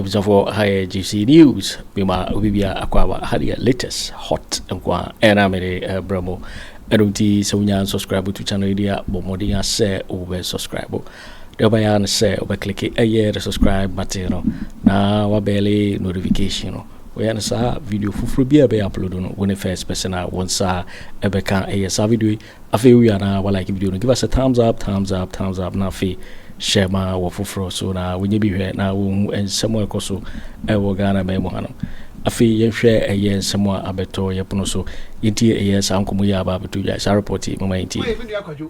abusuafoɔ ha yɛ gypsy news mema obi bia akɔ aba ha deɛ latest hot nko a ɛna mede brɛ mo ɛno nti sɛ wonya subscribe to channel yi deɛ bɔ mmɔden asɛ wobɛ subscribe Deɛ wobɛyɛ ara ne sɛ wobɛklike ɛyɛ the subscribe button no na wabɛle notification no. Woyɛ no saa video foforɔ bi a ɛbɛyɛ upload no, wo ne first person a wo nsa ɛbɛka ɛyɛ saa video yi. Afei wowie a na walike video no, give us a thumbs up, thumbs up, thumbs up na afei hyɛ ma wɔ foforɔ so na wɔnyɛ bi hwɛ na wɔhu nsɛm a ɛkɔ so ɛwɔ Ghana man mu hanom. Afei yɛnhwɛ ɛyɛ nsɛm a abɛtɔ yɛpono so yɛntie ɛyɛ saa nkɔmmɔ yi a aba abɛtɔ dwa saa report yi mama yɛntie.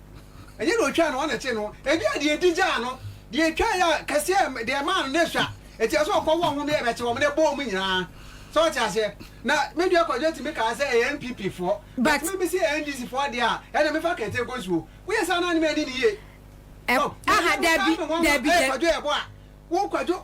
Ɛnyɛ deɛ ɔtwaa no, ɔna ɛkyee no. Ebia deɛ ɛdi gyaa no, deɛ ɛtwaa yɛ kɛseɛ, deɛ ɛmaa no n'asua. Ɛti ɛsɛ ɔkɔ wɔ ho meɛ bɛkye wɔn na ɛbɔ wɔn nyinaa. So ɔte aseɛ? Na Media Kwadwo tumi kaa sɛ ɛyɛ NPP foɔ. But me mese ɛyɛ NDC foɔ deɛ a, ɛna mefa kɛntɛn kɔ nsuo. Woyɛ saa na ne m'ani ne yie. So, ɛɛ, aha, dabi, dabi, dabi. Kwadwo ɛboa. Wo Kwadwo.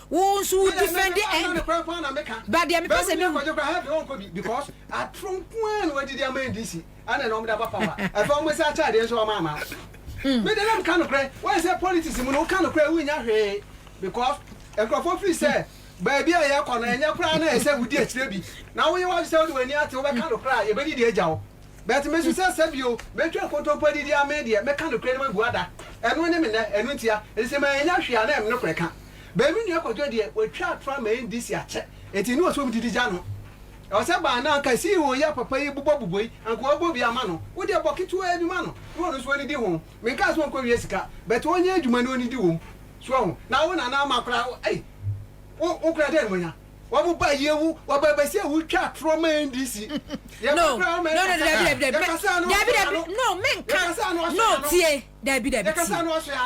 Wo nso wo defend ɛ. Ɛna ne kora paa na me ka. Ba deɛ me pɛ sɛ me hu. Baabi na kɔgye kora hell deɛ ɔnkɔ bi because atoro nko ara na wadidi ama NDC ɛna na ɔmo de aba power ɛfɛ ɔmo saa kyɛ adeɛ nso ɔmo ama. Me deɛ na me ka no korɛ why sɛ politics mu no wo ka no korɛ wo nya hwee because nkorɔfoɔ feel sɛ baabi a yɛkɔ no ɛnyɛ kora na ɛsɛ wo di akyire bi na wo yɛ wadwe sɛ wode wani ate wo bɛ ka no korɛ a yɛ bɛ didi agya wo but me nso sɛ sɛ bio bɛ twa nkontompo adidi a me deɛ me ka no korɛ na ma bu ada ɛno ne me nɛ ɛno ntia ɛsɛ ma yɛ nya hwee a na ɛm no korɛ ka. But me nua kwadwo deɛ watwa atorɔ ama NDC akyɛ enti ne ɔsɛ ɔdidi gya no ɔsɛ baa no anka CEO yi a papa yi bobɔ bobɔ yi anka wabɔ bi ama no wodeɛ bɔ ketewaa bi ma no na ɔno nso ɔnidi ho menkaa sɛ ɔnkɔ wia sika but ɔnyɛ adwuma na ɔnidi wom so ahu na wo nana ama koraa wo ei wo wo koraa dɛn na wanya wɔn ba yie wo wɔba bɛsi a wotwa atorɔ ma NDC yɛ no koraa wɔn no no ɛkasa dabi no dabi dabi dabi no menka yɛkasa no no ɔhyɛ no tie Dabi dabi tie.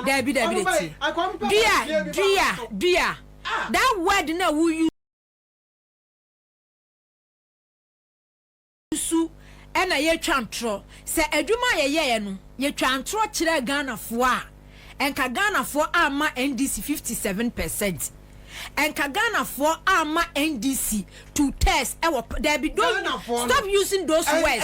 Dabi dabi de tie. Dua dua dua that word na wo use su ɛna yɛtwa ntorɔ sɛ adwuma a yɛyɛɛ no yɛtwaa ntorɔ kyerɛɛ Ghanafoɔ a ɛnka Ghanafoɔ amma NDC fifty seven percent ɛnka Ghanafoɔ amma NDC to test ɛwɔ dabi don't stop using those words.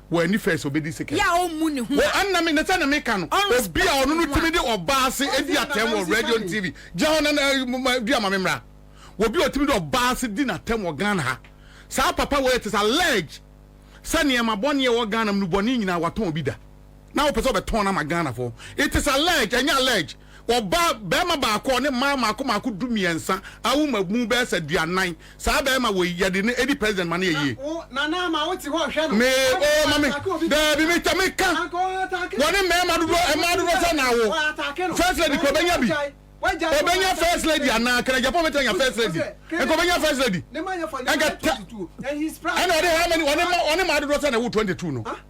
wɔ ani fɛ sɛ obedi Sekem. Wɔ ɛnna me, na sɛnea meka no, obi a ɔno no tumi de ɔbaa ase di atɛm wɔ radio ne TV. Gyina hɔ na dua ma me mmra. Wɔ obi a otumi de ɔbaa ase di n'atɛm wɔ Ghana ha. Saa papa wei ɛte sɛ allege sɛ nneɛma bɔne a ɛwɔ Ghana mu no bɔne nyinaa watɔn bi da. Na wopɛ sɛ ɔbɛtɔn no ama Ghanafoɔ. It is allege, ɛnyɛ allege. Wɔbaa barima baako a ɔne mmaa mmaako mmaako dumiɛnsa awo ma mu bɛyɛ sɛ duanan. Saa barima wei, yɛde no adi president ma no yɛ yie. Me, oh, ma me, daabi, me ta, me ka, wɔne mmarima dodoɔ, mmaa dodoɔ sɛn na awo? First lady kura ɔbɛnya bi? Ɔbɛnya first lady anaa? Kra Japan bɛtumi anya first lady? Nka ɔbɛnya first lady? Nka ta, ɛna ɔde how many, ɔne mma, ɔne mmaa dodoɔ sɛn na ɛwo 22 no?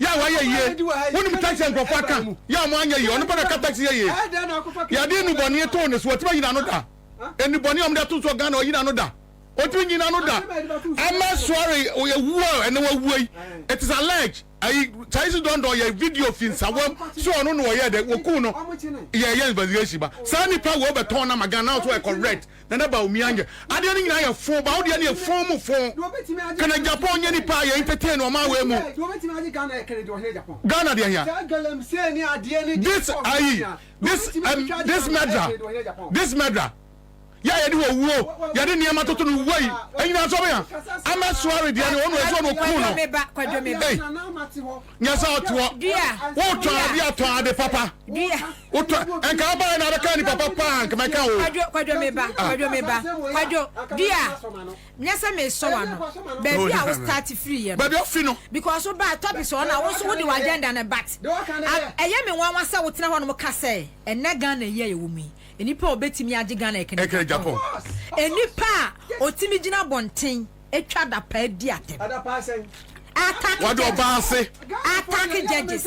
Yɛ a wayɛ yie. Wonim taxi a nkurɔfoɔ aka yɛ a wɔanyɛ yie. Ɔno pɛ na ɛka taxi yɛ yie. Yɛde nnubɔne too ne so. Watumi ayi n'ano da. Nnubɔne a wɔde ato soɔ Ghana, wayi n'ano da. Ɔtumi nyi n'ano da. Ama sɔre ɛwuo a ɛnɛ wawuo yi. It is alleged. Ayi Charisi Dɔndɔn yɛ video fi nsawam sɛ ɔno na ɔyɛɛ dɛ. Wɔkuu no. Yɛyɛ investigation ba. Saa nipa wei wɔbɛtɔn no ama Ghana. Now nso ɛkɔ red. Nana Bawumia nyɛ adeɛ no nyinaa yɛ foo ba wo deɛ no yɛ foo mu foo kene Japan nyɛ nipa a yɛ entertain no ɔman wei mu Ghana deɛ hia this ayi this em this murderer this murderer yɛ a yɛde owuo yɛde nneɛma toto no wei enyina nso ɔbɛya Ahmed Suare deɛ no ɔno ɛso no ɔkuu no ei nyɛ sɛ ɔtoɔ wotɔn adeɛ a tɔn ade papa. Wotɔ nka abaayɛ na abɛka nipa pa paa nka mɛka o. Kwadwo kwadwo me ba ah. kwadwo me ba kwadwo dia nyɛ sɛ mesɔ wa no baabi a wo start firi yɛ no. Baabi afi no. Because wo ba topics wɔ na wo nso wo de wa agenda no but ɛyɛ me nwanwa sɛ wo tena hɔ nom ka sɛ ɛnɛ Ghana yi a yɛwɔ mu yi nipa a obetumi agye Ghana ɛkɛnɛ Japan. Nipa a otumi gyina bɔnten atwa dapaa di atɛm. Attack judges. Attack judges.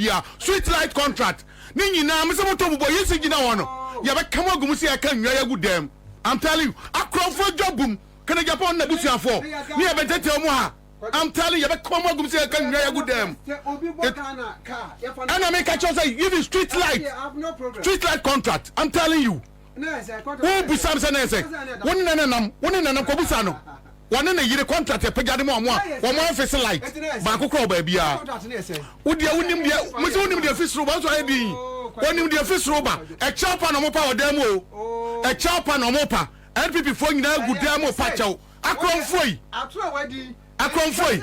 bia sweet light contract ne nyinaa mese motɔ mu bɔ yesi gyina hɔ no yɛbɛka mo agu mu sɛ yɛka nnwa yɛagu dɛm I'm telling you akorɔmfoɔ dwa bum kene Japan na busuafoɔ ne yɛbɛtɛtɛw mu ha I'm telling you yɛbɛka mo agu mu sɛ yɛka nnwa yɛagu dɛm ɛna meka kyerɛw sɛ even street light street light contract I'm telling you Wobisa no sɛ na ɛyɛ sɛn? Wo ne nana nam? Wo ne nanam kɔbisa no. Wɔne ne yere contract apagya ne mu a wɔn a wɔn office light baako kura wɔ baabiara. Wo deɛ wonim deɛ mo sɛ wonim deɛ fi soro ba nso ayɛ din. Onim deɛ fi soro ba. Ɛkyɛw pa na wɔn pa wɔ dan mu o. Ɛkyɛw pa na wɔn pa. NPP foɔ nyinaa gu dan mu pa kyɛw. Akorɔmfoɔ yi. Akorɔmfoɔ yi.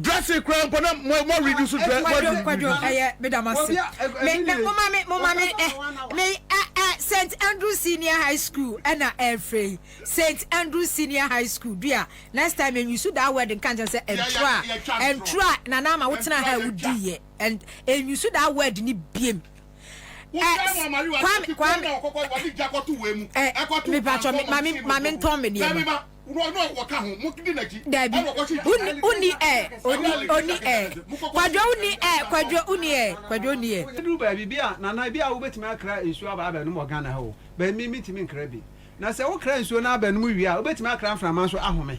Dressing koraa mpo na mo mo reduce dress mo reduce. Kwadwo kwadwo ɛyɛ me da mo ase. Me me mo ma me mo ma me ɛ me ɛ ɛ Saint Andrew Senior High School ɛna ɛfrɛ yi Saint Andrew Senior High School dua next time enyi so daa word nka nkyɛn sɛ ɛntura ɛntura nana ama wo tena ha ewu di yɛ ɛn enyi so daa word ni biem. Kwame kwame ɛ mepatwɔ mami mami ntɔn mi deɛ no. Dabi, uni, uni ɛ, oni, oni ɛ. Kwadwo uni ɛ, kwadwo uni ɛ, kwadwo uni ɛ. Aduru baabi bi a, Nana, ebi a wobɛtumi akra nsuo aba abɛnom wɔ Ghana ha o, but me, mentumi nkra bi. Na sɛ wokra nsuo no abɛnom wie a, wobɛtumi akra mframa nso ahome.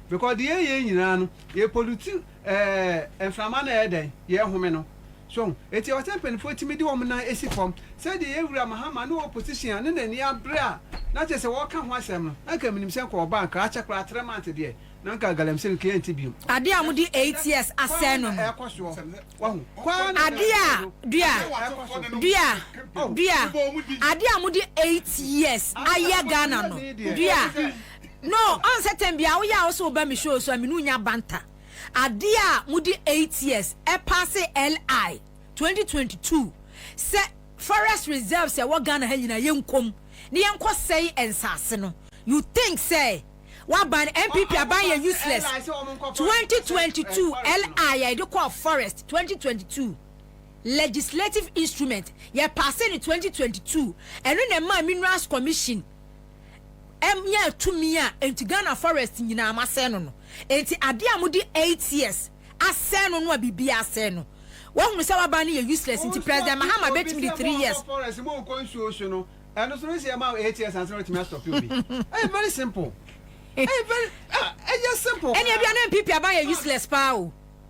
Because deɛ yɛyɛ nyinaa no, yɛ pollute. Ɛɛ mframa na ɛyɛ dɛn? Yɛrehome no. So ho? Enti ɛwɔ sɛ mpanimfoɔ tumi de wɔn nan si fam. Sɛdeɛ yɛn Wura Mahama no wɔ position a ne n'ani abre a, na kyerɛ sɛ wɔreka ho asɛm no, na nka menim sɛ nka ɔba a, nka akyɛ koraa three months deɛ, na nka galamsey no nka yɛnte biom. Adeɛ a wɔde eight years asɛe no no. Kwan na ɛrekɔ soɔ. Wahu? Kwan na ɛrekɔ soɔ. Adeɛ a, dua, dua, dua, adeɛ a wɔde eight years ayɛ Ghana no, dua. No ɔn sɛ tɛm biaa wo yɛ a wo se wo ba me show so a me ne wo nya banter adeɛ a mo de eight years ɛpaase LI twenty twenty two sɛ forest reserves a ɛwɔ Ghana ha nyinaa yɛ nkɔ mu ne yɛ nkɔ sɛe nsaase no you think sɛ wo aban NPP aban yɛ useless twenty twenty two LI a yɛde kɔɔ forest twenty twenty two legislative instrument yɛ paase no twenty twenty two ɛno na ɛmaa minerals commission nyaa tumi a enti Ghana forest nyinaa masɛe no no. Enti adeɛ a mode eight years asɛe no no a biribiara asɛe no, woahunu sɛ woaba no yɛ useless nti President Mahama bɛtumi de three years. Mo nso a mo a mo wɔ forest mo nkɔ nsuo so no, ɛno nso no sɛ yɛma wo eight years ansa na watumi a stop obi. Ɛyɛ very simple. Ɛyɛ very ah ɛyɛ simple paa. Ɛne ebia na NPP aban yɛ useless paa o.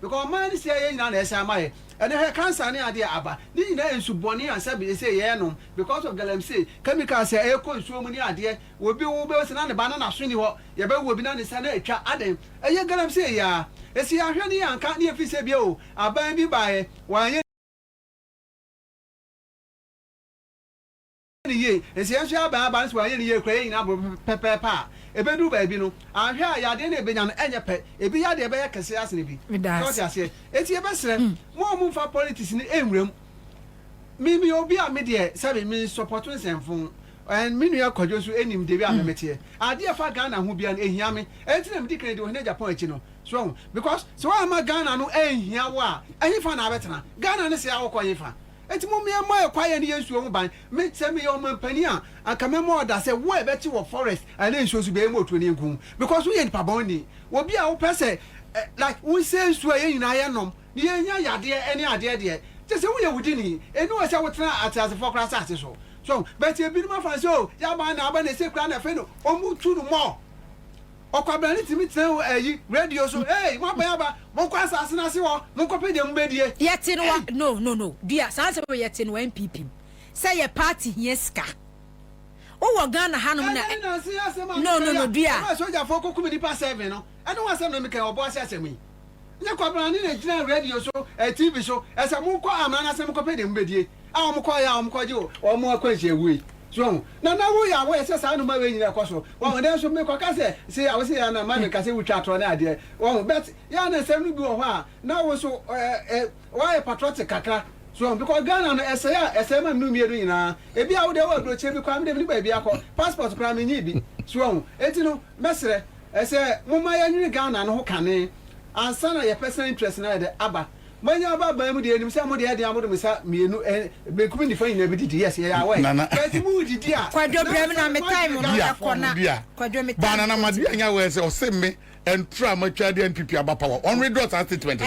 Because ɔman ne sɛɛ yɛ nyinaa na ɛsɛ ama yɛ ɛnɛ hwɛ cancer ne adeɛ a aba ne nyinaa nsu bɔne ansa bi ɛsɛ yɛ nom because of galamsey chemical sɛ ɛkɔ nsuo mu ne adeɛ obi wo bɛhu sɛ na ne ba no naso ni hɔ yɛ bɛ wo obi na ne nsa no atwa adɛn ɛyɛ galamsey yi ara ɛsɛ yɛ ahwɛ ne yɛ anka ne yɛ firi sɛ bia o aban bi baeɛ wɔanyɛ yɛ no yie, nsɛ yɛn nso yɛaba yɛn aba no so wanyɛ no yie koraa, yɛn nyinaa boro pɛpɛɛpɛ a, ɛbɛduru baabi no, anhwɛ a yadeɛ no a yɛbɛnya no nyɛ pɛ, ebi yadeɛ bɛyɛ kɛseɛ asen ebi. So wote aseɛ? Enti yɛbɛsrɛ mo a mommfa politics no nwura mu. Me, meyɛ obi a me deɛ, sɛbe, me nsɔpɔto nsɛmfo, and me nua Kwadwo nso nim deɛ a me meteɛ. Adeɛ a ɛfa Ghana ho biara no, ɛhia me. Ɛno nti na medi kan di Ohene Japan akyi no. So woahu? Because sɛ woamma Ghana no anhia wo a, ɛhefa na abɛtena? Ghana no sɛe a wokɔ hefa? Enti mommea mmɔ yɛn kwaeɛ ne yɛn nsuo ho ban. Me, sɛ meyɛ ɔmanpanin a, anka mɛma ɔda sɛ wo a ɛbɛte wɔ forest anaa nsuo so bɛyɛ ma otuani nko, because woyɛ nipa bɔn ni, obi a wopɛ sɛ eh, like wonsɛe nsuo a yɛn nyinaa yɛ nom na yɛnya yadeɛ ɛne adeɛ deɛ, gye sɛ woyɛ wudini, ɛni hɔ sɛ wotena ateasefoɔ koraa asase so. So ho? But ebinom afa no sɛ oh, yɛaban no aban na ɛsɛ koraa na afei no wɔtu no more. Ɔkwabran no tumi tena hɔ ayi radio so, Hey, moaba aba, monkɔ asase no ase hɔ, monkɔpɛ deɛ mobɛdie. Yɛte no wɔ, Hey! No, no, no, dua, saa nsɛm wei yɛte no wɔ NPP mu, sɛ yɛ party hia sika. Wowɔ Ghana ha nom na Ɛnɛ ne nansa yi asɛm a No, meka no, yi a, no, dua. ɛberɛ a sogyafoɔ kɔkum nnipa seven no, ɛno ho asɛm na meka yi, ɔbɔ ase asɛm yi. Nyɛ kwabrane na gyina radio so, TV so, sɛ mokɔ amena no ase na mokɔpɛ deɛ mobɛdie, a wɔkɔyɛ a wɔkɔgye wɔn akwanhyia wui. So ahu? Na na woyɛ aware sɛ saa nnoɔma wei nyina ɛkɔ so. Wahu? Nanso mekɔka sɛ, se a wose yɛ na ma meka sɛ wotwa atorɔ ne adeɛ. Wahu? But yɛ a na nsɛm no bi wɔ hɔ a na wo nso woayɛ patriotic kakra. So ahu? Because Ghana no ɛsɛe a ɛsɛe ma no mmienu nyinaa. Ebia wo deɛ wowɔ aburokyire bi koraa, me deɛ menni baabi akɔ, passport koraa menyii bi. So ahu? Enti no. Mɛsrɛ sɛ momma yɛnwene Ghana no ho kane ansa na yɛ personal interest no ayɛ dɛ aba. Moanya aba aban mu deɛ yɛnim sɛ modeɛ ɛdeɛ a mode mo nsa mmienu benkum nifa nyinaa bɛdidi, yes yɛyɛ aware but moredidi a Kwadwo na brɛm na ansa no moadwene Ghana foɔ ho. Bia, baa Nana Maduanya wɛɛ sɛ ɔse me ɛntra a matwa adeɛ a NPP aba power, ɔnwithdraw saa statement no.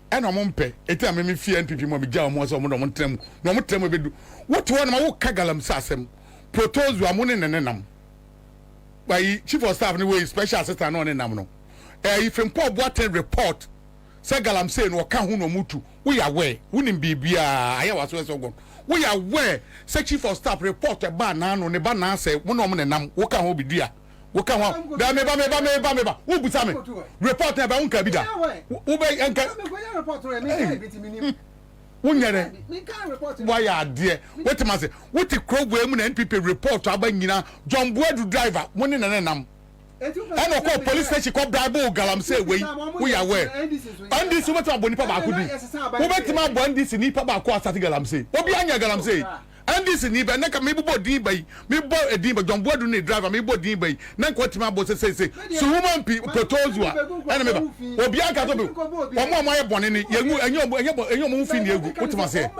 ɛna ɔmo mpɛ eti na meme fie NPP mu a megyaa ɔmo sɛ ɔmo na ɔmo ntena mu na ɔmo tena mu ebedu wote hɔ na ma woka galamsey asɛm protozoa mo ne ne nenam ayi chief of staff ne wei special assistant na ɔne nam no ayi Frimpong Boateng report sɛ galamsey no ɔka ho na ɔmo tu woyɛ aware wonim biribiara ayɛ waso ɛsɛ ɔgɔn woyɛ aware sɛ chief of staff report ɛbaa naano ne ba naasɛ mo na ɔmo nenam woka ho bedua Wo ka ho a, bɛ me ba me ba me ba me ba. Wo busa me report na bɛ wo nka bi da. Wo bɛ yɛ nka. Wo nyɛ dɛ. Wa yɛ adeɛ. Wo te ma se. Wo te kuro wei mu na NPP report aba nyina. John Boadu driver mo ne na ne nam. Ɛna ɔkɔ police station kɔ bribe wo galamsey wei. Wo yɛ aware. NDC wo bɛ te ma bɔ nipa baako din. Wo bɛ te ma bɔ NDC nipa baako asate galamsey. Obi a nyɛ galamsey. NDC ni bɛ na nka mebobɔ din bɛ yi mebɔ edin bɛ John Boadu ne driver mebɔ din bɛ yi na nka watumi abɔ sɛ seisei Suhuma mpi Potozua ɛna meba obiara nka sɛ wɔn a wɔn ayɛ bɔne ne yɛngu ɛnyɛ wɔn ɛnyɛ bɔ ɛnyɛ wɔn ho fi ne yɛgu wotem aseɛ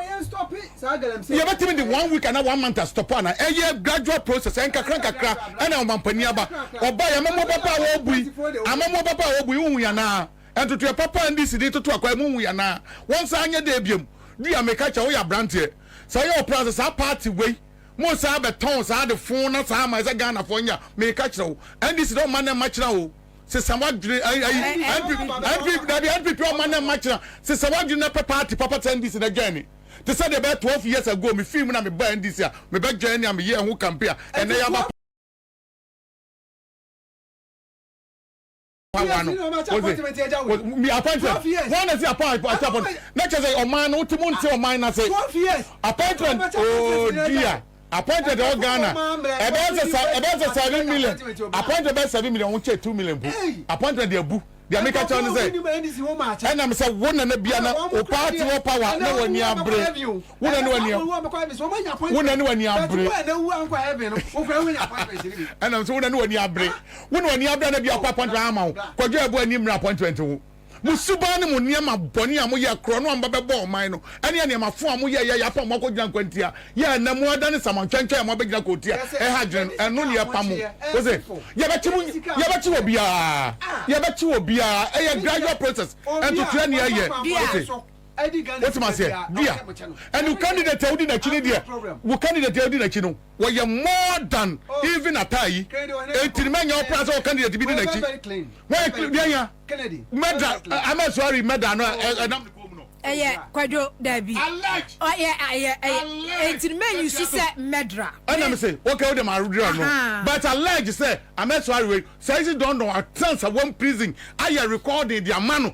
yɛbɛtumi de one week ana one month astɔpo ana ɛyɛ gradual process ɛnkakra nkakra ɛna ɔmampanin aba ɔba yɛ amamuo papa a wɔbui amamuo papa a wɔbui wohu yɛ anaa ntotoɛ papa a NDC ni toto akwa mu wohu yɛ anaa wɔnsan nyɛ dɛ biam dua meka kyɛ woyɛ abranteɛ Sɛ yɛ ɔpɛ a sɛ saa party wei mo saa bɛ tɔn saa de fon na saa ma sɛ Ghana foɔ nya me ka kyerɛ wo NDC dɛ ɔma nɛ mma kyena o se sɛ wa dwene ayi ayi NPP dabi NPP ɔma nɛ mma kyena se sɛ wa dwene nɛ pɛ party papa te NDC na dwɛn me te sɛ deɛ bɛyɛ twelve years ago me fii mu na me baa NDC a me bɛ dwɛn nea me yɛɛ ho campaign a ɛnɛ ya ba awa no wose mi appointment wọn na si apa ati apɔ na kyerɛ sɛ ɔman no wote mo nte ɔman na se appointment ooo dia appointment ɛwɔ Ghana ɛbɛyɛ sɛ sa ɛbɛyɛ sɛ seven million appointment bɛyɛ seven million wɔn kyɛ two million po appointment deɛ bu deɛ mi ka kyerɛ ne sɛ ɛnam sɛ wo na ne bia na o paati wɔ power na wɔ ni abere wo na ne wɔ ni wo na ne wɔ ni abere ɛnam sɛ wo na ne wɔ ni abere Wo na w'ani abra na bi a ɔkɔ appointment amma wo. Kwadwo ɛbo ani mmra appointment wo. Mo suban ne mo nneɛma bɔne a mo yɛɛ, korɔno a mo ba bɛbɔɔ ɔman no, ɛne ɛnneɛma fo a mo yɛɛ, yɛɛ apam a mo akɔ gyina nkwantia yɛ, ɛnnɛ mo adane samantwɛntwɛn a mo abɛgyina kootia a ɛha adwene no, ɛno ne yɛpam mo. Wo se, yɛbɛkye mo, yɛbɛkye obiara, yɛbɛkye obiara, ɛyɛ gradual process, ntotoɛ ne yɛyɛ, wo te, wo te m'aseɛ, dear, and wo candidate a wodi n'akyi no deɛ, wo candidate a wodi n'akyi no. wɔyɛ more than even Atai enti no mɛnyɛ ɔpra sɛ wɔ candidate bi di n'akyi wɔyɛ clean deɛ nya mɛda ama suari mɛda no ɛnam ne kɔn mu no ɛyɛ kwadwo dabi ɔyɛ ɛyɛ ɛyɛ enti no mɛnyi su sɛ mɛdra ɛna me se wɔkɛ wode ma adra no but allege sɛ ama suari wei sɛ isi dɔndɔn atensa wɔn prison ayɛ recording de ama no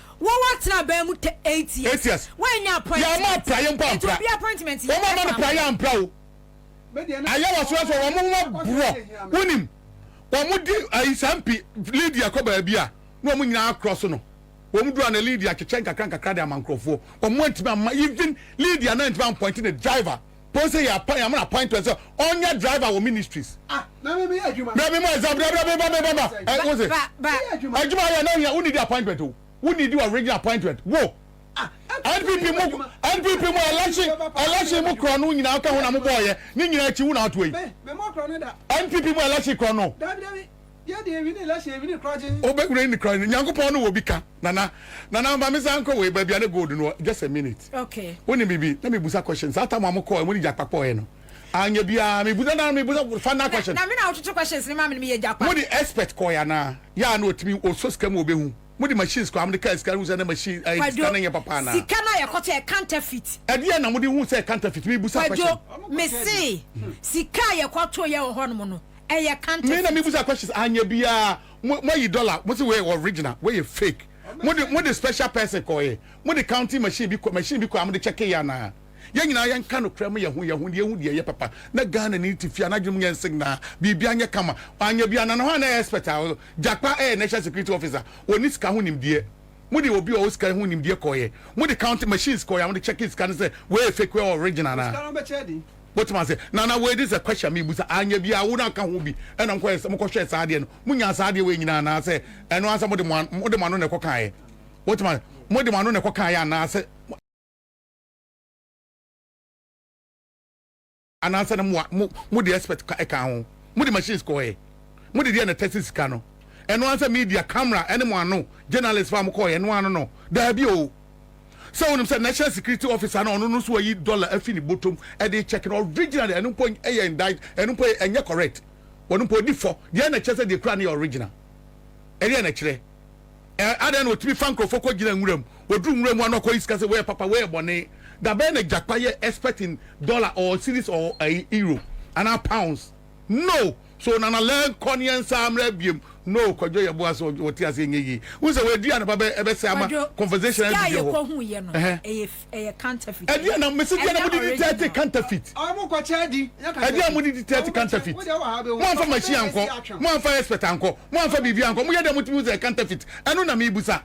Wowɔ atenaban mu te eight years. Eight years. Woannya appointment. Yɛmma apraeɛ mpo ampra. Nti obi appointment yɛ. Wɔn a wɔma no praeɛ ampra o. Ayɛ wɔ serɛ so wɔn ho aborɔ. Wonim wɔn de ayi saa mpi Lydia kɔ baabi a na wɔn nyinaa akorɔ so no wɔn dura na Lydia kyekyɛ nkakra nkakra de ama nkurɔfoɔ wɔn antumi amma even Lydia na antumi ampɔinte ne driver. Pon sɛ yɛ appoint yɛ mana appointment sɛ ɔnyɛ driver wɔ ministries. Ah na mi mi yɛ adwuma. Brɛ mi ma ɛza brɛ brɛ mi ba mi ba ma ɛ wo se. Ba ba. Adwuma yɛ na hia wo need appointment o wo need original appointment wo. NPP mu NPP mu election election mu korɔ no nyinaa ka ho na mo bɔɔ yɛ ne nyinaa akyi wo na ato yi. NPP mu election korɔ no. Dabi dabi. Wobɛhunu ɛyi ne kra no Nyankopɔn no wɔ bi ka Nana Nana ma me san kɔ wei baabi a ne gold no wɔ just a minute okay wonim biribi na mebusa question saa tam a mo kɔɔ ɛmu ne gyakpa kɔɔɛ no anyɛ biara mebusa na mebusa final question na me na wototo questions ne ma me meyɛ gyakpa mode expert kɔɔɛ anaa yɛ a na ɔtumi ɔsɔ sika mu ɔbɛhu mode machines kɔɔ a mode kaa sika no hu sɛ na machine ɛyɛ sika no nyɛ papa anaa sika no a yɛkɔtɔ yɛ counterfeit ɛdeɛ na mode hu sɛ counterfeit mebusa question kwadwo mese sika a yɛkɔtɔ yɛ wɔ hɔ nom no ɛyɛ counterfeit. Me na me busa questions anyɛ biaa mo mo ayi dollar mo se wei yɛ original wei yɛ fake mo de mo de special person kɔ yɛ mo de counting machine bi kɔ machine bi kɔ a mo de check yɛ anaa yɛn nyinaa yɛn ka nokorɛ mo yɛ ho yɛ ho yɛn hu deɛ ɛyɛ papa na Ghana ni te fie a n'adwene mu nyɛ nsig naa biribia nyɛ kama anyɛ biaa nana hwan a na ɛyɛ expert a Gyakpa ɛyɛ national security officer ɔnni sika ho nimdeɛ mo de obi a ɔwɔ sika ho nimdeɛ kɔ yɛ mo de counting machines kɔ yɛ a mo de check sika no sɛ wei yɛ fake wei yɛ original anaa. Wotumi ase na na wei dis a question mi busa anyɛ bi a wo na ka ho bi ɛna mo kɔyɛ mo kɔhwɛ saa adeɛ no mo nya saa adeɛ wei nyinaa anaa sɛ ɛno ansa mo de mo mo de mo ano na ɛkɔ kan yɛ wotumi ase mo de mo ano na ɛkɔ kan yɛ anaa sɛ anaa sɛ na mo mo mo de expert ka ɛka ho mo de machines kɔ yɛ mo de deɛ na tɛsi sika no ɛno ansa media camera ɛne mo ano journalist fa mo kɔ yɛ ɛno ano no daabi o. sɛ wonim sɛ national security officer no ɔno no nso wayi dollar afi ne bɔtɔm ɛde check no original ɛno mpo ɛyɛ indict ɛno mpo ɛnyɛ correct wɔn mpo odi fɔ deɛ na kyerɛ sɛ deɛ kura no yɛ original ɛdeɛ na kyerɛ ɛɛ adan na otumi fa nkorɔfoɔ kɔ gyina nwura mu oduru nwura mu ano akɔ yi sika sɛ wɔyɛ papa wɔyɛ bɔne dabɛn na gyakpa yɛ expert in dollar or series or ɛyi euro anaa pounds No so nana lɛ nkɔ ne yɛn nsa mmra biom no kwadwo yɛ boa sɛ wɔ te aseɛ nyɛ yie wohu sɛ wɔ adua na ba bɛ ɛbɛ sɛ ama conversation ɛdi deɛ hɔ ɛhɛ ɛdeɛ na mesi deɛ na mo didi tɛɛte counterfeit ɛdeɛ na mo didi tɛɛte counterfeit mo anfa machine ankɔ mo anfa expert ankɔ mo anfa biribi ankɔ mo yɛ deɛ mo tumi sɛ counterfeit ɛno na mi busa.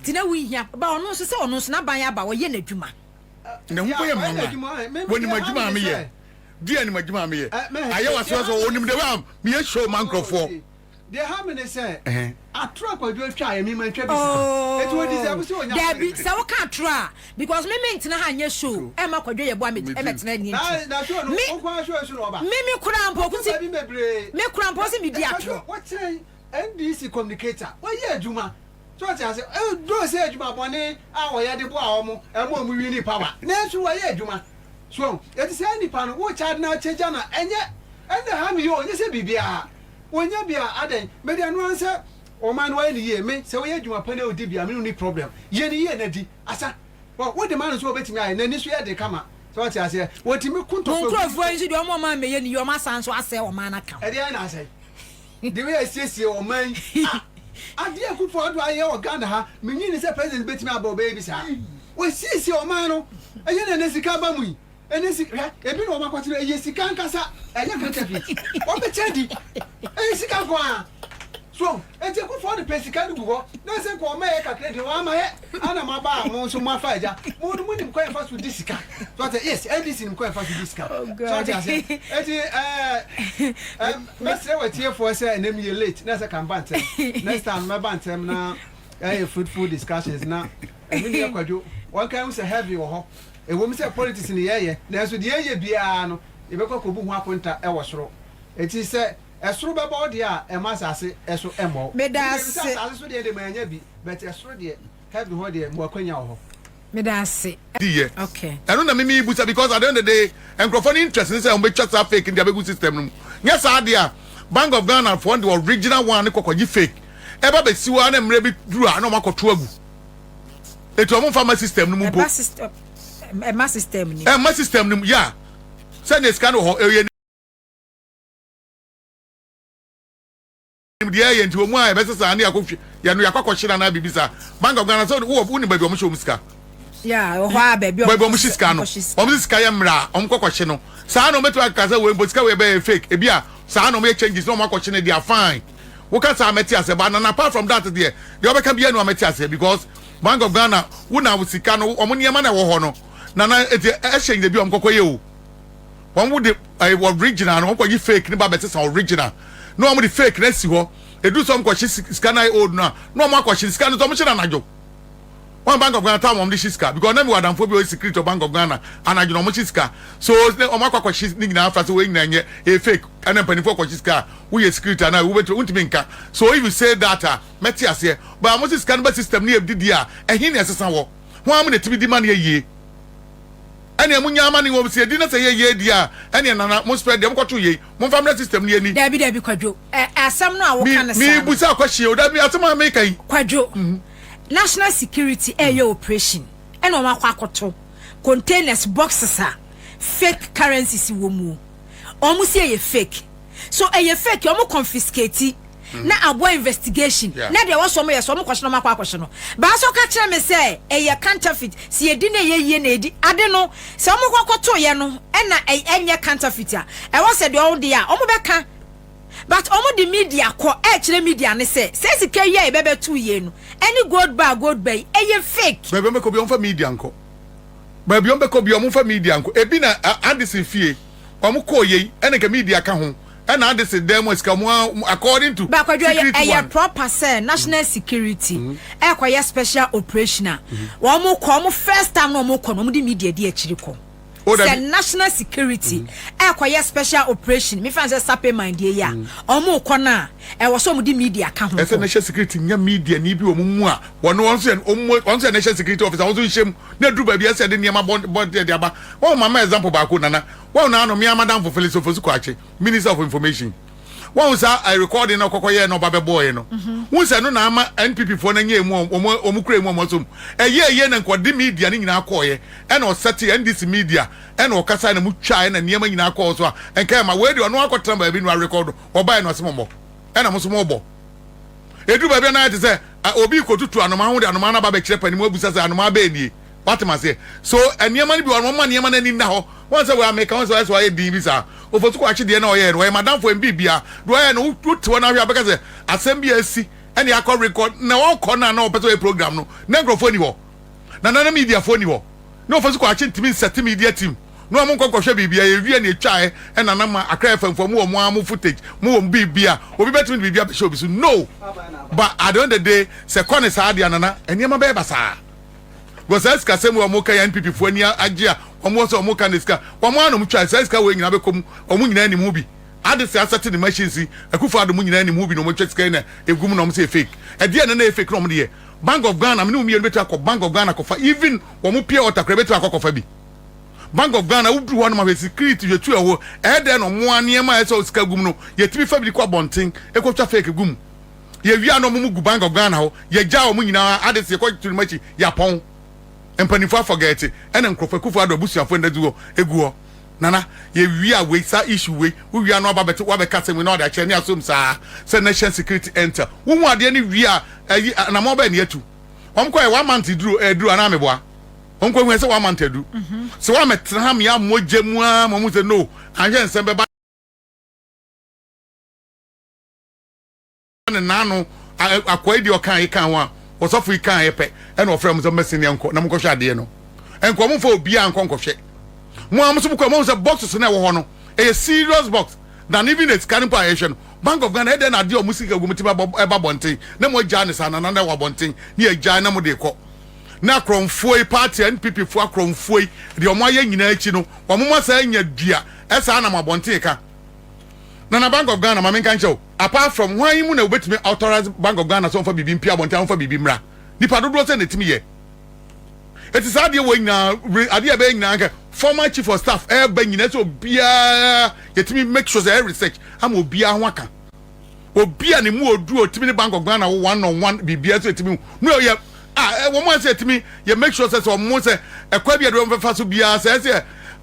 Nti na wonhia ba ɔno nso sɛ ɔno nso n'aban aba ɔyɛ n'adwuma. Na ho kɔyɛ mama wɔnim adwuma a meyɛ di anim adwuma a meyɛ ayɛ wasoa sɛ wɔnim dɛ a meyɛ show ma nkurɔfoɔ. Deɛ ha me ne sɛ atoro akwadwo atwa ayɛ me ma ntwa bi saa ɛti wɔ deserve sɛ ɔnya daabi sɛ woka atoro a because me me ntena ha nyɛ show ɛma akwadwo yɛ boa me ɛmɛtena ni nti me me koraa mpo ɔkusi me koraa mpo sɛ medi atoro NDC communicator wɔyɛ adwuma so ɔte ase though sɛ adwuma bɔne a wɔyɛ de boa wɔn ɛma wɔn winni power nanso wɔyɛ adwuma so ɔho eti saa nipa no wokyɛ ade no akyɛ gya na ɛnyɛ ɛnna ha me yi o nyɛ sɛ biribiara wɔnya bi a adɛn me deɛ noa sɛ ɔman no wɔyɛ no yie me sɛ woyɛ adwuma pa na odi bia me no ni problem yɛ no yie na di asa ɔho wode ma no nso wɔbɛtumi ayɛ n'ani so yɛ de kama so ɔte aseɛ wɔtumi ko ntɔkwa gu Wɔn nkurɔfoɔ yi nso deɛ wɔn a wɔn a mmɛyɛ no yie wɔn asan nso asɛe ɔman no aka ho. Ɛdeɛn na asɛe? The way yɛasiesie ɔman yi ah Adeɛ a Akuffo Addo ayɛ wɔ Ghana ha mennye nni sɛ President bɛtumi aba ɔbɛyɛ bi saa Wasiesie ɔman no Ɛnyɛ nea ɛnɛ sika aba mu yi Ɛnɛ sika hwɛ ebi na wɔakɔte no ɛyɛ sika ankasa ɛnyɛ counterfeit Wɔbɛkyɛ adi Ɛyɛ sika nko ara So enti Akuffo Addo pɛ sika no gu hɔ na sɛ nka ɔma yɛ kakra deɛ wamma yɛ. Ana maba a mo nso mo afa agya mo no mo nim kwan fa so di sika so ɔte yes NDC nim kwan fa so di sika so ɔte ase eti ɛɛ mɛsrɛ wɔ atiefoɔ sɛ ɛnɛ mi yɛ late na ɛsɛ ka mba ntɛm next time mɛba ntɛm na ɛyɛ fruitful discussions na ɛmi ni ɛkwadwo wɔn kan ho sɛ heavy wɔ hɔ ɛwɔ mu sɛ politics ni yɛyɛ nanso deɛ yɛ biara no yɛbɛkɔ akɔbu ho akonta ɛwɔ soro eti sɛ Ɛsoro bɛbɔ wo deɛ a ɛma asase ɛso ɛmmɔ wo. Meda ase. Wogye di sɛ asase so deɛ de ma yɛnya bi but ɛsoro deɛ, heaven hɔ deɛ mo akwanya wɔ hɔ. Meda ase. di yɛ ɛno na me me busa because at the end of the day nkurɔfoɔ no interest ne sɛ wɔn bɛtwa saa fake no de abɛgu system no mu nyɛ saa deɛ a bank of Ghana foɔ no de original one no kɔ kɔgye fake ɛba bɛsi hɔ a na mmerɛ bi duru a na wɔn akɔto agu eti wɔn nfa ma system no mu mpo ɛba system ɛma system no mu ɛma system no mu yeah sɛdeɛ sika no wɔ hɔ ɛyɛ. nim deɛ ɛyɛ nti wɔn a ɛbɛsɛ saa ne akɔhwɛ yɛ no yɛakɔ akɔhyɛ na biribi saa bank of ghana sɛ wowɔ wo ne baabi wɔn hyɛ wɔn sika baabi wɔn hyɛ sika no wɔn sika yɛ mmara wɔn kɔ kɔhyɛ no saa na wɔn bɛtumi akaka sɛ wɔn mpo sika wɔ ɛbɛyɛ fake ebi a saa na wɔn yɛ changes na wɔn akɔhyɛ no deɛ fine woka saa mɛte asɛ ba na apart from that deɛ deɛ wɔbɛka bi yɛ no amɛte asɛ because bank of ghana wo na sika no wɔn nneɛma na ɛwɔ hɔ no na na ɛhyɛ ndebi wɔn kɔkɔ yɛ o. wɔn mo de ɛɛ original no wɔn kɔ yi fake ne ba bɛ sesa original na wɔn de fake no asi hɔ edu sɛ wɔn kɔ hye sika na ayɛ old no a na wɔn akɔ hye sika no sɛ wɔn hye no anadwo wɔn bank of ghana time wɔn de hye sika because na mi wɔ adanfoɔ bi a ɔyɛ security bank of ghana anadwo na wɔn hye sika so wɔn akɔ akɔ hye ne nyinaa afra so wɔn nyinaa nyɛ ɛyɛ fake ɛna mpanimfoɔ kɔ hye sika a woyɛ security anaa wobɛtumi wontumi nka so if you say that a mɛte aseɛ but wɔn hye sika no ba system ne yɛ didi a ɛhin na ɛsesa wɔ wɔn a mo na ɛtumi di ma ne yɛ yie. ɛneɛ monya ama ne wɔm sɛ ɛdi na sɛ ɛyɛ yei deɛ a ɛneɛ nana mo spɛ deɛ mo kɔto yei mo nfa mmerɛ system no yɛni. Dabi dabi kwadwo ɛ asɛm no a wo ka no saa no. Me busa question o dabi asɛm a me ka yi. Kwadwo national security ɛyɛ operation ɛna wɔn akɔ akɔto containers boxes a fake currencies wɔ muo wɔn se ɛyɛ fake so ɛyɛ fake ɔmo confiscate na aboa investigation yeah. na deɛ wɔsɔ ɔmo yɛ sɔ ɔmo kɔhyɛ no ɔmo akɔ akɔhyɛ no baasa ɔka kyerɛ me sɛ ɛyɛ counterfeit si yɛdi na ɛyɛ yie na ɛdi ade no sɛ ɔmo kɔkɔ to yɛ no ɛna ɛnyɛ counterfeit a ɛwɔ sɛ deɛ ɔmo de a ɔmo bɛka but ɔmo de media kɔ ɛkyerɛ media ne sɛ sɛ sika yi a ɛbɛbɛ tu yie no ɛne gold bar gold bar yi ɛyɛ fake. baabi ɔmo bɛkɔ bi ɔmo fa media nkɔ baabi ɔmo bɛkɔ bi ɔmo fa media nkɔ ebi na adisi fie. wɔn kɔɔ yei ɛna nka media ka ho ɛna ade se dan mu a sika wɔn according to Bakwadwo ɛyɛ ɛyɛ proper sɛ national security ɛkɔ yɛ special operation a wɔn kɔ wɔn first time na wɔn kɔ na wɔn de media di akyiri kɔ sɛ national security ɛkɔ yɛ special operation mi fan sɛ sape man die yɛ a wɔn kɔ na ɛwɔ sɛ wɔn de media ka ho ɛsɛ national security nya media ni bi wɔn mu a wɔn wɔn sɛ wɔn sɛ national security officer wɔn nso nhyɛm na duru baabi ɛsɛ de nneɛma bɔ bɔ de aba. Wɔn ma ma example baako nana wɔn na ano mea madamfo Phyllis Ofosu Kwakye minister of information wɔn saa I recording na ɔkɔkɔ yɛɛ na ɔba bɛ bɔɔɛ no wohu sɛ ɛno na ama NPP foɔ no anya emu a wɔn wɔn kura emu a wɔn asɔ mu ɛyɛ ɛyɛ na nka ɔde media no nyinaa kɔɔyɛ ɛna ɔsɛte NDC media ɛna ɔkasaɛ na mo twaa ɛna nneɛma nyinaa kɔɔ so a nka ɛma wei deɛ ɔno akɔtena baabi no a record ɔbaɛ no ɔse mo mmɔ ɛna mo nso mo bɔ ɛduru baabi a na ayɛ te sɛ a obi kɔtutu anomaa ho de anomaa no aba bɛkyerɛ panimu abusa sɛ anomaa bɛɛ nie Woate m'aseɛ? So nneɛma no bi wɔ hɔ no, wɔma nneɛma no ani nna hɔ. Woahu sɛ wei a meka ho sɛ ɔyɛ sɛ wayɛ dinn bi saa? Ofosu Kwakye deɛ na ɔyɛɛ no, ɔyɛ m'adamfo, ɛnyɛ biribiara. Deɛ ɔyɛɛ no, wote hɔ no ara hwɛ a, wobɛka sɛ asɛm bi a asi na yɛakɔ rekɔd. Na ɔrekɔ no a na ɔpɛ sɛ ɔyɛ program no, na nkurɔfoɔ nni hɔ. Na na na mediafoɔ nni hɔ. Na Ofosu Kwakye ntumi nsɛte media team no a monkɔ nkɔhwɛ biribiara, yɛwie na yɛtwaeɛ na na ma Accra FM foɔ, mowɔ mo ara mo footage, mowɔ biribiara, obi bɛtumi de biribi abɛhyɛ obi so? No! But at the end of the day, sɛ ɛkɔ no saa deɛ a, Nana, nneɛma bɛyɛ basaa. Because saa sikasɛm wei wɔn ka yɛ NPP foɔ ani agye a wɔn wɔ sɛ wɔn ka ne sika wɔn ano mo twa saa sika wei nyinaa bɛkɔ mu wɔn nyinaa nim ho bi ade sɛ asɛte ne machines yi Akufo Addo mo nyinaa nim ho bi na wɔn atwa sika yi na egum na wɔn sɛ yɛ fake ɛdeɛ na na yɛ fake na wɔn de yɛ Bank of Ghana me ne wo mmienu bɛtumi akɔ Bank of Ghana akɔfa even wɔn pure water koraa bɛtumi akɔ akɔfa bi Bank of Ghana woduru hɔ nom ahwɛ security hwɛ tu ɛwɔ ɛyɛ dɛn na wɔn a nneɛma a ɛsɛ sika gum no yɛtumi fa bi de kɔ abɔnten ɛkɔtwa fake gu mu. Yewia no ɔmo mo gu bangor Ghana hɔ yɛgyaa ɔmo nyinaa adese yɛkɔ kyere ɔmo akyi yɛapɔn mpaninfoɔ afɔgɛɛte ɛna nkorɔfoɔ akufo addo abusuafoɔ nna gu hɔ egu hɔ Nana yewia wei saa issue wei wo wia no aba bɛte wo abɛka asɛm wei na wode akyerɛ ne asom saa sɛ national security enter wo hu adeɛ no wie a ayi anamɔn bɛn na yɛatu ɔmo kɔ yɛ one month eduru ɛduru anaa meboa ɔmo kɔ hu yɛ sɛ one month aduru sɛ wɔamɛtena ha mea mogya mu aa ma ɔmo sɛ no anhwɛ nsɛm bɛba. ne nan ano akoa yi deɛ ɔkaa yi kaa ho a ɔsɔfo yi kaa yɛ pɛ ɛna ɔfrɛ mo sɛ mɛsɛn nea nkɔ na mo nkɔhwɛ adeɛ no nkɔ mo nfa obiara nkɔ nkɔhwɛ mo a mo nso mo kɔ mo sɛ boxes na ɛwɔ hɔ no ɛyɛ serious box than even a sika no mpo a yɛhwɛ no bank of ghana ɛdɛ na adeɛ a mo sika gu mo ti ba ɛba bɔnten na mo agyaa ne saa na nana ɛwɔ abɔnten ne agyaa na mo de kɔ na akorɔmfoɔ yi party npp foɔ akorɔmfoɔ yi deɛ wɔn ayɛ nyinaa akyi no wɔn mo asan anya dua ɛsaa nam abɔnten ka. na na Bank of Ghana ma menka nkyɛw apart from hwan yi mu na wobɛtumi authorize Bank of Ghana sɛ ɔmfa biribi mpia abɔnten a ɔmfa biribi mmra nipa dodoɔ sɛ na ɛtumi yɛ ɛti saa adeɛ wɔ nyinaa adeɛ ɛbɛyɛ nyinaa nkɛ former chief of staff ɛba nyinaa sɛ obiara yɛtumi make sure sɛ ɛyɛ research ama obiara ho aka obi a ne mu ɔduru ɔtumi ne Bank of Ghana wo one on one biribiara sɛ ɛtumi mu yɛ a wɔn a sɛ ɛtumi yɛ make sure sɛ sɛ wɔn sɛ ɛkwa bi a ɛde wɔn bɛfa so biara sɛ ɛsɛ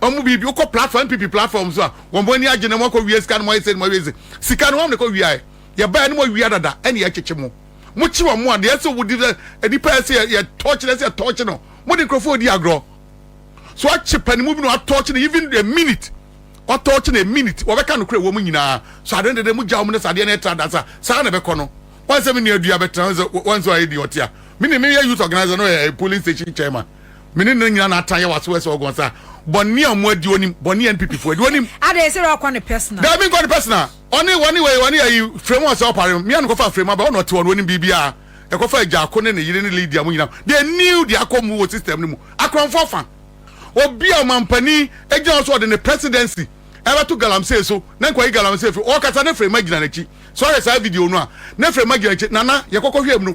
Ɔmo biibi wokɔ platform NPP platform so a wɔn ani agye na moakɔ wia sika na moayɛ sei na moayɛ sei sika no wɔn na ɛkɔ wiaɛ yɛbaɛ no moawia dada ɛna yɛakyekye mo mokye wɔn mo a deɛ ɛsɛ wɔdi sɛ nnipa ɛsɛ yɛ yɛ tɔɔkye no ɛsɛ yɛ tɔɔkye no mode nkurɔfoɔ ɔdi agrɔ so akye panimu bi na watɔɔkye no even a minute watɔɔkye no a minute wɔbɛka no korɛ wɔ mo nyinaa so adeɛ dede mo gya wɔn no sɛ adeɛ no ɛtra da sa saa na ɛbɛkɔ no wɔn sɛ me nua dua bɛtra wɔn sɛ wɔn sɛ wɔayɛ di ɔte a me ne meyɛ youth organizer no yɛ polling station chairman Me ne no nyina na atan yɛ waso ɛsɛ ɔgɔn sa bɔne a ɔmo adi onim bɔne NPP fo adi onim. Ada ɛsɛ dɛ ɔkɔ ne personal. Daabi nkɔ ne personal ɔne ɔne wei ɔne ayi fremu ɔsɛ ɔpare no mia no kɔfa fremu aba ɔna ɔte hɔ no onim biribia ɛkɔfa agyako ne ne yere ne Lydia mo nyina they knew de akɔ mu wɔ system no mu akorɔmfoɔ fa obi a ɔmampanin agyina hɔ so ɔde ne presidency ɛbɛto galamsey so na nkɔyi galamsey firi ɔkasa ne fremu agyina n'akyi sɛ ɔyɛ saa video no a ne fremu agyina n'akyi nana yɛkɔkɔ hwɛ mu no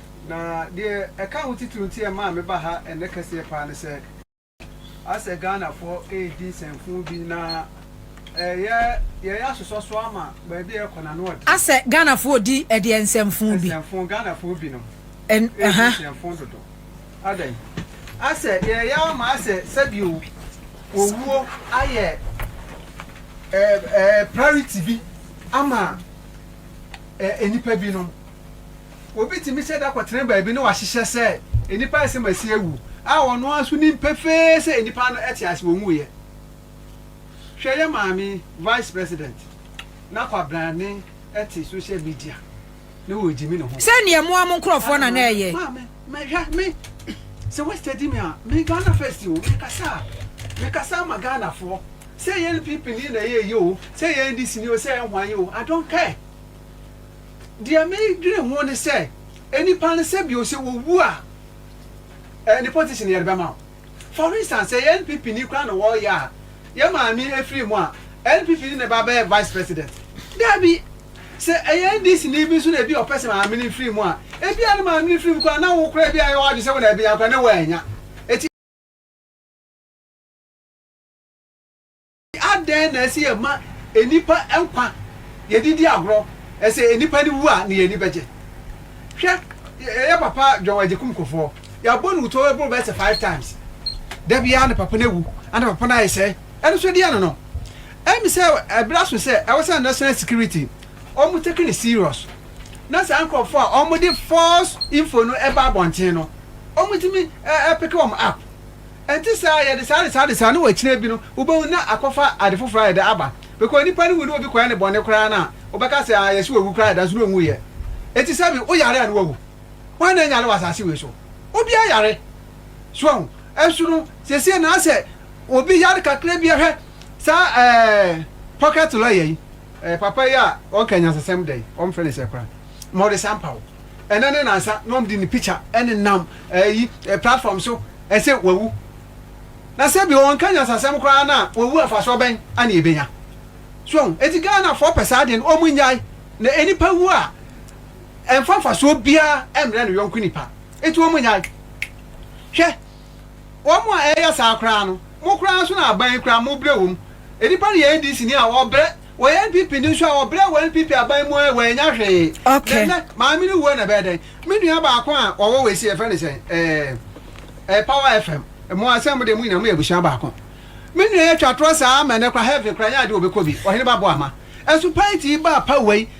Na deɛ ɛka ho titiriw nti a ɛmaa me ba ha ɛnnɛ kɛseɛ paa ne sɛ, asɛ Ghanafoɔ redi nsɛmfuu bi na ɛyɛ yɛyɛ asosɔsoɔ ama baabi a yɛrekɔ no ano ɔden. Asɛ Ghanafoɔ redi ɛdeɛn nsɛmfuu bi? Nsɛmfuu, Ghanafoɔ binom redi nsɛmfuu dodo. Adɛn? Asɛ yɛreyɛ ama asɛ sɛbio owuo ayɛ ɛɛ ɛɛ priority bi ama ɛɛ nnipa binom. Obi tumi hyɛ da kɔtena baabi na wahyehyɛ sɛ nnipa asɛm asi awu, a ɔno ara nso nim pefee sɛ nnipa no te ase, wɔnwuiɛ. Hwɛ yɛn maame Vice President na kwabrane te social media na ɔregyimi ne ho. Sɛ neɛ mo ara mo nkorɔfoɔ na na ɛyɛ. Maame, me hwɛ me, sɛ woastadi me a, me Ghana First o, mekasa a, mekasa ama Ghanafoɔ. Sɛ ɛyɛ NPP ni na ɛyɛ yi o, sɛ ɛyɛ NDC ni o, sɛ ɛyɛ hwan yi o, I don't care. Deɛ medwene ho ne sɛ nnipa no sɛ bio sɛ wɔwu a ɛne politician no yɛde bɛma wo. For instance sɛ yɛ NPP ni koraa na wɔreyɛ a yɛ maame afiri mu a NPP ni na ɛba bɛyɛ vice president? Daabi. Sɛ ɛyɛ NDC ni bi nso na ebia ɔpɛ sɛ maame no firi mu a ebia ne maame no firi mu koraa na wo koraa ebia yɛ w'adwene sɛ wo na ɛbɛnya koraa na woannya. Eti. Adɛn na ɛsɛ yɛma nnipa nkwa? Yɛde di agorɔ. Ɛsɛ nnipa no wu a na yɛn ani bɛgye. Hwɛ yɛn papa John Agyekum Kufuor. Yɛabɔ no wutuo bɛboro bɛyɛ sɛ five times. Da biara na papa no awu ana papa no ayɛ sɛɛ. Ɛno nso ɛdeɛn no no? Ɛyɛ me sɛ ɛberɛ aso sɛ ɛwɔ sɛ national security wɔn take no serious na saa nkorɔfoɔ a wɔde false info no ɛba abɔnten no wɔn tumi peke wɔn up. Ɛte saa a, yɛde saa de saa de saa, na wɔ akyire bi no, wobɛhu na akɔfa ade foforɔ ayɛ dɛ aba. Because nipa no wu na obi kɔyɛ no bɔne koraa no a, wobɛka sɛ, ah, yɛse wawu koraa deɛ, nanso na ɔnwuiɛ. Enti sɛbe woyare a na wawu. Hwan na anyare wɔ asase wei so? Obiara yare. So wahu? Nso no, seesei na asɛ obi yare kakra bi a, hwɛ saa ɛɛ pocket lawyer yi, ɛɛ papa yi a ɔka nyansasɛm dɛn, wɔfrɛ no sɛ koraa, Morris Ampaw, ɛnnɛ ne nansa na wɔde ne picture nenam ɛyi platform so, ɛsɛ wawu? Na sɛ bi ɔnka nyansasɛm koraa no a wawu mfasoɔ bɛn na yɛbɛnya? So ahu? Enti Ghanafoɔ pɛ saa adeɛ no wɔn nnyae na ɛnipa wu a ɛmfa mfasoɔ biara ɛmmerɛ no yɔnko nipa enti wɔn nnyae hwɛ wɔn a ɛyɛ saa koraa no mo koraa nso na aban yi koraa mo brɛ wɔn ɛnipa no yɛ NDC ni a ɔbrɛ Wɔ NPP no nso a wɔbrɛ wɔ NPP aban mu a wɔannya hwee. Na nnɛ maame no wu a na ɛbɛyɛ dɛn? Me nua baako a ɔwɔ wei sei yɛfrɛ no sɛn ɛɛ Power FM mo a sɛ mo deɛ mo nyinaa moyɛ abusua baako. Me nua yɛtwa torɔ saa ma nnɛ koraa heaven koraa ɛnyɛ adeɛ a ɔbɛkɔ bi. Ɔheneba Boama. Ɛso paa nti yi baa pa wei.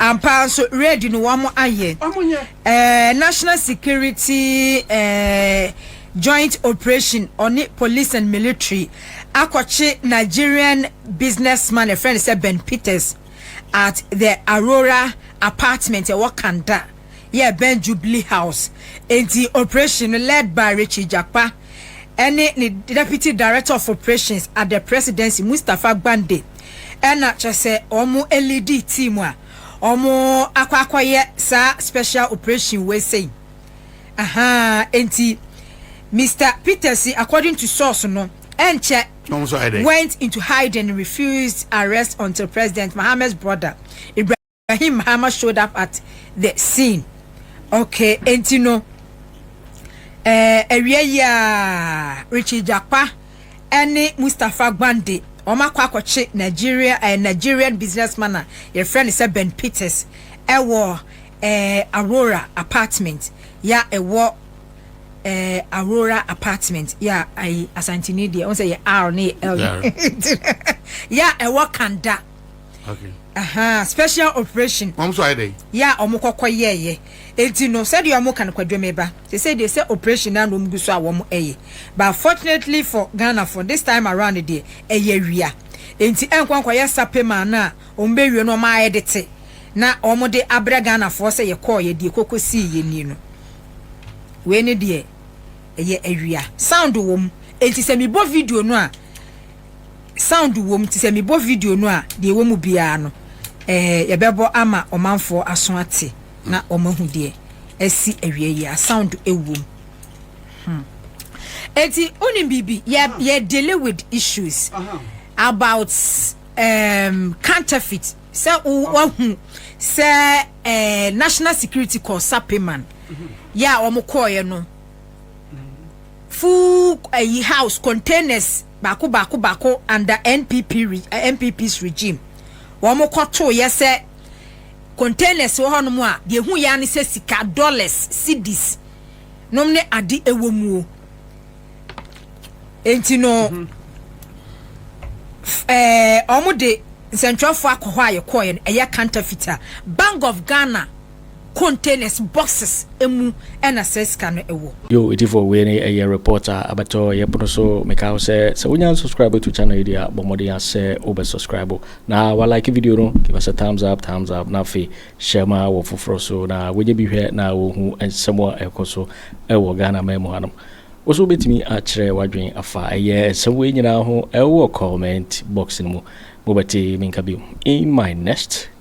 Ampa ara nso, raid no wɔayɛ. Ɛɛ National Security ɛɛ Joint Operation ɔne Police and Military akɔkye Nigerian businessman ɛfrɛ no sɛ Ben Peters at the Aurora apartment ɛwɔ Kanda yɛ ɛbɛn Jubilee House. Enti operation no led by Richie Jakpa. ɛne ne Deputy Director of Operations at the Presidency Mustapha Gbande na kyerɛ sɛ wɔn leadi team a wɔn akɔ akɔyɛ saa special operation wei sei. Ahaa enti Mister Peters according to source no ɛnkyɛ went into hiding refused arrest until President Mahama's brother Ibrahim. Ibrahim Mahama showed up at the scene. Okay, enti no, eh, awia yi Richie Jakpa ne Mustapha Gbande, wɔn akɔ akɔkye Nigeria, eh, Nigerian businessman a yɛfrɛ no sɛ Ben Peters ɛwɔ eh, Aurora apartment ya ɛwɔ eh, Aurora apartment ya ayi Asantini deɛ, wɔn sɛ yɛ R ne yɛ L ya ɛwɔ Kanda. okay aha special operation wɔn nso ayɛ dɛ yɛ a wɔn kɔkɔ yɛɛyɛ eti no sɛdeɛ wɔn ka no kwadwam ɛba te sɛ deɛ sɛ operation na wɔn gu so a wɔn ɛyɛ but fortunately for Ghana for this time around deɛ ɛyɛ wia enti ɛnkɔ nkɔ yɛ sape maa no a wɔn bɛ wie no wɔn ayɛ de te na wɔn de abrɛ Ghana foɔ sɛ yɛ kɔɔ yɛ deɛ koko sii yɛ nie no wei ne deɛ ɛyɛ awia sound wɔm enti sɛ mebɔ video no a sound wom nti sɛ mebɔ video no a deɛ ɛwɔ mu biara no eh, yɛbɛbɔ ama ɔmanfoɔ aso ate na wɔn ahu deɛ asi awia yi a sound ɛwom hmm. Eti unim bibi yɛ yɛ dealing with issues about um, counterfeit sɛ wahu sɛ eh, national security kɔ sapeman mm-hmm. yɛ a wɔn kɔɔɛ no full ɛyi eh, house containers baako baako baako under NPP re NPP's regime wɔn kɔ too yɛ sɛ containers wɔ hɔ nom a deɛ ehu yɛ ara ne sɛ sika dollars cedis nom ne ade ɛwɔ muo enti no ɛɛ wɔn de nsɛntwerɛfoɔ akɔ hɔ a yɛ kɔɔ yɛ no ɛyɛ counterfeit a Bank of Ghana containers, boxes, mu na saa sika no wɔ. Yo Itifoɔ wei ne ɛyɛ report a abɛtɔ yɛ pono so meka wo sɛ sɛ wonya unsubscribe ato channel yi deɛ a bɔ mmɔden ara sɛ wobɛ subscribe na wa like video no give us a thumbs up thumbs up na afei share ma wɔ foforɔ so na wɔnyɛ bi hwɛ na wɔhu nsɛm a ɛkɔ so ɛwɔ Ghana man mu hanom wo so wobɛtumi akyerɛ wadwen afa ɛyɛ nsɛm wei nyinaa ho ɛwɔ comment box no mu mobɛte menka bio in my next